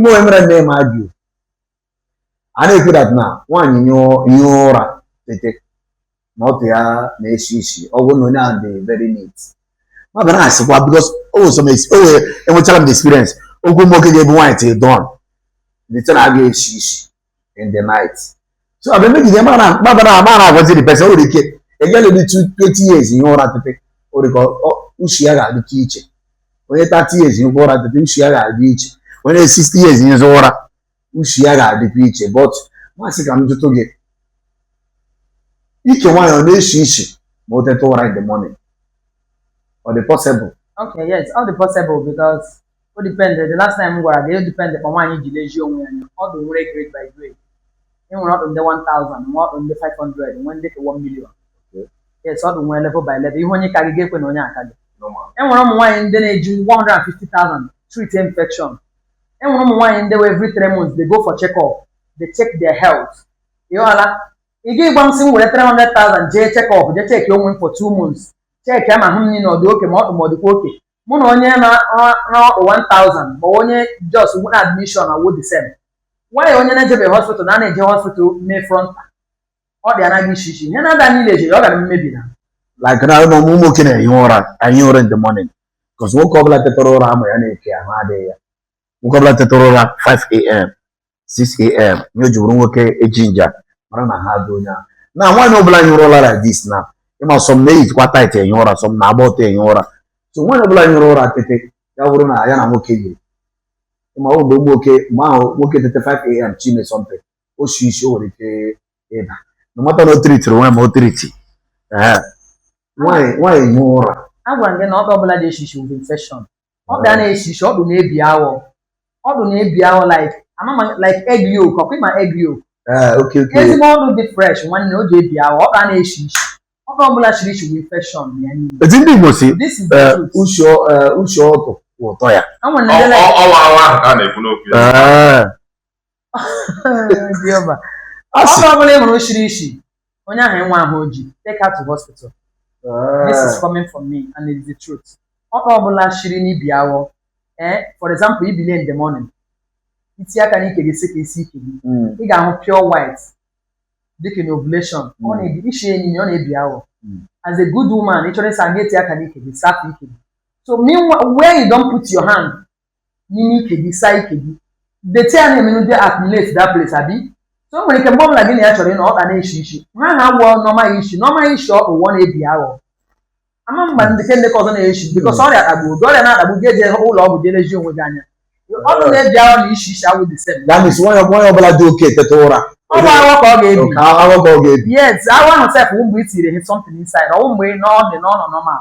mgbe onye mere nne m ajụ a na-ekwu that na nwaanyị nyụọ ụra tete na ọtụ ya na-esi isi ọ wụ na onye ahụ dị very neat ma bịara asịkwa because o wee enwechala m the experience ọ wụ nwoke ga-ebu nwaanyị till dawn the thing a ga-esi isi in the night so ọ ga-emegide mara mabara amara agwazi the person o nwere ike a girl dị 20 years hie ụra tete o nwere ka ushi ya ga-adịcha iche onye 30 years hie ụra tete ushi ya ga-adị iche onye 60 years hie ụra ushi ya ga-adịkwa iche but m sị ka m jụtụ gị ike nwaanyị ọ na-eshi ishi ma o teta ụra in the morning ọ dị possible Okay, yes, ọ dị possible because ọ depend the last time m gwara gị ọ depend kpa nwaanyị ji lezie onwe ya anya ọtụ nwere grade by grade e nwere ọtụ ndị 1000 nwee ọtụ ndị 500 nwee ndị ka 1 million yes ọtụ nwere level by level ị hụ onye ka gị ị ga-ekwe na onye a ka gị normal e nwere ụmụ nwaanyị ndị na-eji 150,000 treat infection e nwere ụmụ nwaanyị ndị wụ every three months they go for check up they check their health ịghọla ị ga ịgwa m sị m were 300,000 jee check up jee check onwe m for two months checkịa m ahụ m niile ọ dị okay ma ọ bụ ma ọ dịkwa okay mụ na onye na na ọtụ 1000 ma onye just mụ na admission awụ the same why onye na-ejebeghị hospital na na-eje hospital mee fronta ọtụ ya anaghị eshi ishi ihe na-ada niile eje ọ gara mmebi na like now ụmụ ụmụ nwoke na-ehi ụra nyụọ ụra in the morning because nwoke ọbụla tetara ụra amụ ya na-eke ahụ adịghị ya nwoke ọbụla tetara ụra 5 a.m. 6am ihe o ji bụrụ nwoke e-ginger mara na ahụ dị onye ahụ now nwaanyị ọbụla nyụrụ ụra like this now ị ma some na-eyijikwa tight enye ụra some na-agba ọtọ enye ụra so nwaanyị ọbụla nyụrụ ụra tete ya bụrụ na ya na nwoke yiri ịma ọ mgbe nwoke mgbe ahụ nwoke tete 5am tinye something o si isi o nwere ike ịda no matter na ọ treatiri nwaanyị ma ọ treati ee nwaanyị nwaanyị nyụọ ụra agwara m gị na ọtụ ọbụla shiri ishi bụ infection ọ ga na-esi isi ọtụ na-ebi awọ ọtụ na-ebi awọ like amama like egg yolk ọkwa ịma egg yolk ah, ezigbo ọtụ dị fresh nwanne o ji ebi awọ ọ ga na-esi isi ọtụ ọbụla shiri ishi bụ infection ya niile eti ndị Igbo sị eh, ushi ọtụ eh, ụtọ ya ọ wụ awọ ahụ ka a na-ekwu okwu ya ah. Jehova. Ọtụ ọbụla ị hụrụ shiri ishi, onye ahụ enwe ahụ oji, take her to hospital. This is Ah, coming from me and it's the truth. Ọtụ ọbụla kwesiri ibi awọ, eh, for example, i bilie in the morning, i tie aka n'ike gị sị ka ị saa ike gị, mm, ị ga-ahụ pure white dịka in ovulation, ọ Mm. naghị eshi ishi enyi ọ na-ebi awọ. Mm. As a good woman, ị chọrọ ịsa ị ga-eti aka n'ike gị, sapụ ike gị. So meanwhile, where you don't put your hand, n'ime ike gị saa ike gị dirty ya na-emenụ dey accumulate that place abi so o nwere ike mgbe ọbụla gị na ya chọrọ ịnọ ọkpa na-eshi ishi ha ha wụọ normal ishi normal ishi ọkpa ụwọ n'ebe ahụ ama mgba ndị ke ndị ka ọzọ na-eshi because ọrịa kpagbu oge ọrịa na-akpagbu gị eje ụlọ ọgwụ jee lezie onwe gị anya ọ bụrụ na ebe ahụ na-eshi ishi awụ the same that means nwanyị nwanyị ọbụla dị okay eteta ụra ọ bụ aghọ ka ọ ga-ebi ka aghọ ka ọ ga-ebi yes aghọ ahụ sef wụ mgbe i tinyere he something inside ọwụ mgbe ị nọ ọ dị n'ọnọ normal